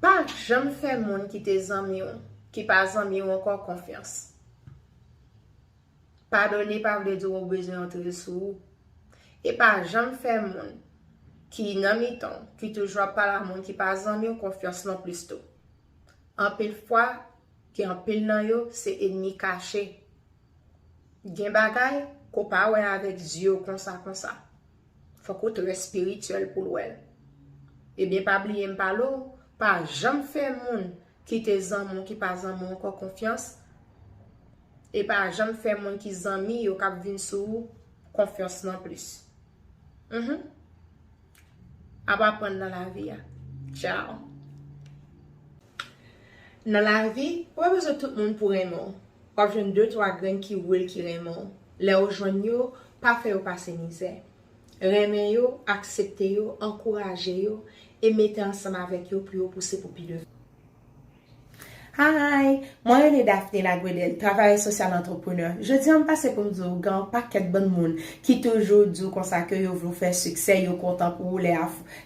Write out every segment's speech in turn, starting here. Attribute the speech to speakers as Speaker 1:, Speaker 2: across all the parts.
Speaker 1: Pa janm fè moun ki te zanmi w, ki pa zanmi w ankò konfyans. Padone pa vle di w bezwen yo tonbe sou ou. E pa janm fè moun ki nan mitan w, ki toujou ap pale ak moun ki pa zanmi w konfyans non plis tou. Anpil fwa, gen anpil nan yo se enmi kache. Gen bagay ke w pa wè avèk zye w konsa konsa. Fok ou trè spirituel poul wèl. Ebyen pa bliye m pale w, pa janm fè moun ki te zanmi w ki pa zanmi w ankò konfyans, e pa janm fè moun ki zanmi yo kap vin sou ou konfyans non plis. Mph. Ap aprann nan lavi a. Tchao. Nan lavi, ou pa bezwen tout moun pou renmen w. W ap jwenn de twa grenn ki real ki renmen w. Lè ou jwenn yo, pa fè yo pase mizè. Renmen yo, aksepte yo, ankouraje yo, e mete ansanm avèk yo pou yo pouse pou pi devan. Hi! Mwen rele Daphne Laguedel, travayèz sosyal antreprenè. Jodi an m pase pou m di w gen yon pakèt bann moun ki toujou di w konsa ke yo vle w fè siksè, yo kontan pou ou lè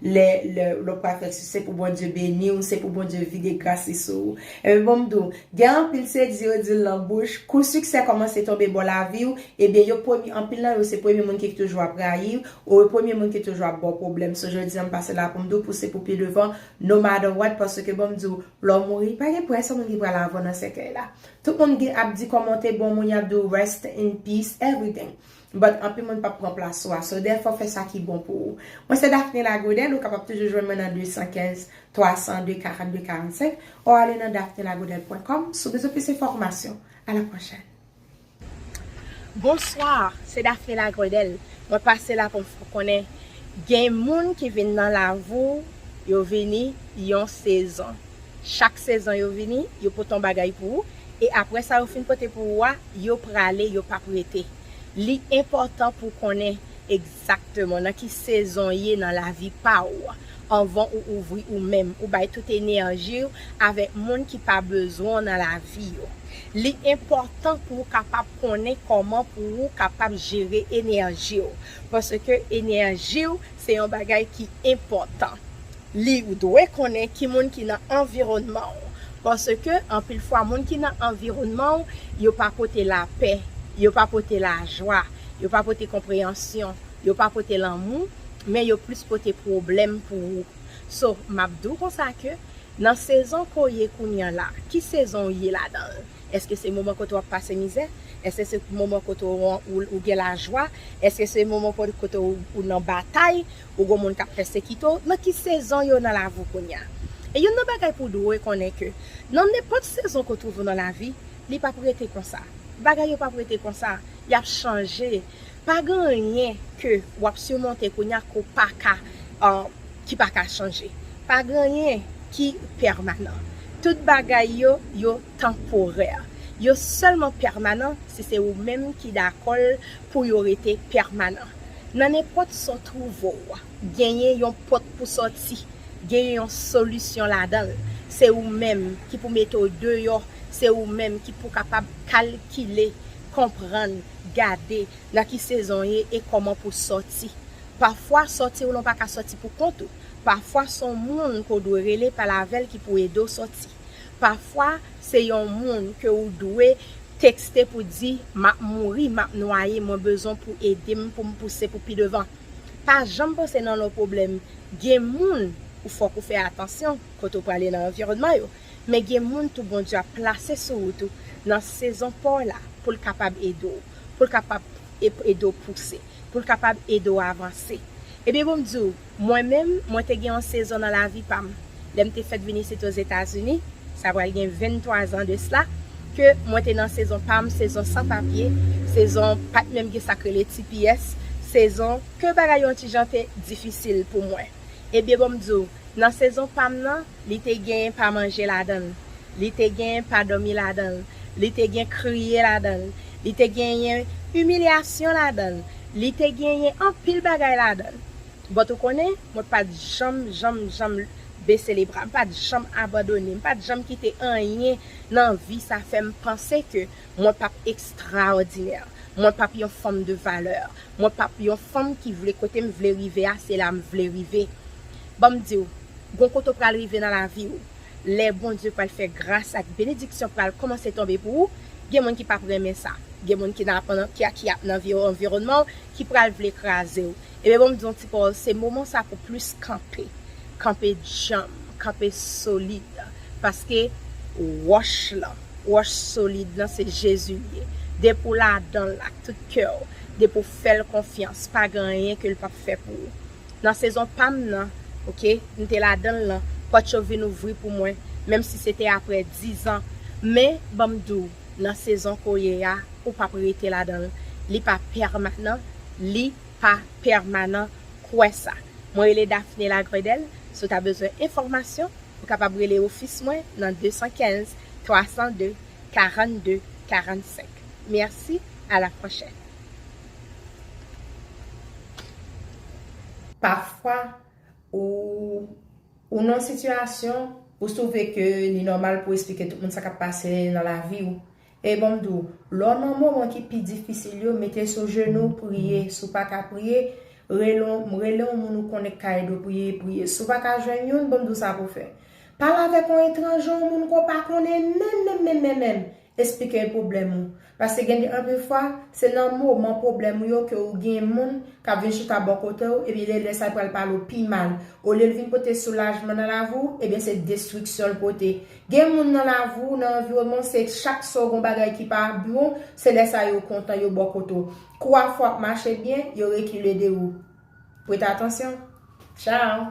Speaker 1: Lè lè w pral fè si se pou Bondye beni w, se pou Bondye vide gras li sou ou. Ebyen bon m di w, gen anpil se di yo di l nan bouch, kou siksè kòmanse tonbe bò lavi w, ebyen yo premye anpil nan yo se premye moun ki toujou ap rayi w, ou yo premye moun ki toujou ap ba w pwoblèm. So jodi an m pase la pou m di w pouse pou pi devan no matter what paske bon m di w lè w mouri pa gen pou yon sèl moun ki pral avè w nan sèkèy la. Tout moun gen ap di kòman w te bon moun y ap di w rest in peace everything. But anpil moun pap pran plas ou a so dèfò fè sa ki bon pou ou. Mwen se Daphne Lagodel ou kapab toujou jwenn mwen nan 215 302 42 45 or ale nan daphnelagodel pwen kòm si w bezwen plis enfòmasyon. A la pwochèn. Bonsoir se Daphne Lagredel mwen pase la poum fèw konnen gen moun ki vin nan lavi w yo vini yon sezon Chak sezon yo vini, yo pote yon bagay pou ou, e apre sa yo fin pote pou ou a, yo prale, yo pap rete. Li enpòtan pou w konnen egzakteman nan ki sezon w ye nan lavi pa ou anvan ou ouvri ou menm, ou bay tout enèji w avèk moun ki pa bezwen w nan lavi yo. Li enpòtan pou w kapab konnen kòman pou ou kapab jere enèji w, paske enèji w se yon bagay ki enpòtan. Li ou dwe konnen ki moun ki nan anviwònman ou paske anpil fwa moun ki nan anviwònman ou yo pa pote lapè, yo pa pote lajwa, yo pa pote konpreyansyon, yo pa pote lanmou men yo plis pote pwoblèm pou ou. So map di w konsa ke nan sezon ke w ye kounya la, ki sezon ou ye ladan l? Eske se moman kote wap pase mizè? Eske se moman kote ou gen lajwa? Eske se moman kote ou nan batay? ou gon moun kap pèsekite w, nan ki sezon yo nan lavi w kounya. E youn nan bagay pou w dwe konnen ke nan nenpòt sezon ke w twouve w nan lavi, li pap rete konsa. Bagay yo pap rete konsa, yap chanje. Pa gen anyen ke wap simonte kounya ke w paka ki paka chanje. Pa gen anyen ki pèmanan. Tout bagay yo, yo tanporè. Yo sèlman pèmanan si se ou menm ki dakò l pou yo rete pèmanan. Nan nenpòt sa w twouve w, genyen yon pòt pou sòti, genyen yon solisyon ladan l. Se ou menm ki pou mete w deyò, se ou menm ki pou kapab kalkile, konprann, gade nan ki sezon w ye e kòman pou w sòti. Pafwa sòti w lan w pa ka sòti pou kont ou, pafwa s on moun ke w dwe rele pale avè l ki pou ede w sòti. Pafwa se yon moun ke ou dwe tekste pou di map mouri, map nwaye mwen bezwen pou ede m pou m pouse pou pi devan. Pa janm panse nan lon pwoblèm gen moun ou fòk ou fè atansyon kote ou prale nan anviwònman yo men gen moun tou Bondye ap plase sou wout ou nan sezon pa w la pou l kapab ede w pou l kapab ede w pouse pou l kapab ede w avanse ebyen pou m di w Mwen menm, mwen te gen yon sezon nan lavi pa m, lè m te fèt vin isit Ozetazini, sa pral gen 23 zan de sla, ke mwen te nan sezon pa m, sezon san papye, sezon pa t menm gen sa k rele tps, sezon ke bagay yon ti jan te difisil pou mwen. Ebyen bon m di w, nan sezon pa m nan, Li te gen pa manje ladan l. Li te gen pa dòmi ladan l. Li te gen kriye ladan l. Li te genyen imilyasyon ladan l. Li te genyen anpil bagay ladan l. But ou konnen, mwen pa t janm, janm, janm bese le bra. M pa t janm abandone. M pa t janm kite anyen nan vi sa fè m panse ke mwen pap ekstraòdinè. Mwen pap yon fanm de valè. Mwen pap yon fanm ki vle kote m vle rive a se la m vle rive. Banm diw, gon kote w pral rive nan lavi w, lè Bondye pral fè gras ak benediksyon pral kòmanse tonbe pou ou, gen moun ki pap renmen sa, gen moun ki nan ki ap nan anviwònman w ki pral vle kraze w, ebyen banm diw ti pawòl se moman sa pou plis kanpe, kanpe djanm, kanpe solid, paske wòch lan, wòch solid lan se Jezi l ye, depi w ladanl ak tout kè w, depi w fèl konfyans pa gen anyen ke l pap fè pou ou. Nan sezon pa m nan, ok, m te ladan l lan, pòt yo vin ouvri pou mwen, menm si se te apre dizan. Men, ban m di w, nan sezon ke w ye a, ou pa p rete ladan l. Li pa pèmanan. Li pa pèmanan. Kwè sa. Mwen rele Daphné Lagredelle. Si w ta bezwen enfòmasyon, ou kapab rele ofis mwen nan 215 302 42 45. Mèsi, a la pwochèn.
Speaker 2: Pafwa, ou nan yon sitiyasyon, ou twouve ke li nòmal pou esplike tout moun sa k ap pase nan lavi ou. E ban m di w, lè w nan moman ki pi difisil yo, mete sou jenou w priye. Si w pa ka priye, rele yon moun ou konnen ki ka ede w priye, priye. Si w pa ka jwenn youn, ban m di w sa pou w fè. Pale avèk yon etranje, yon moun ke w pa konnen menm menm menm menm menm. Esplike l pwoblèm ou. Paske gen de anpil fwa, se nan moman pwoblèm ou yo ke ou gen moun k ap vin chita bò kote ou, ebyen le lè sa l pral pale ou pi mal. Olye l vin pote soulajman nan lavi ou, ebyen se destriksyon l pote. Gen moun nan lavi ou, nan anviwonman w, se chak sa w gen w bagay ki pa bon, se lè sa yo kontan, yo bò kote w. Kou afè w ap mache byen, yo rekile de ou. Prete atansyon. Tchaw!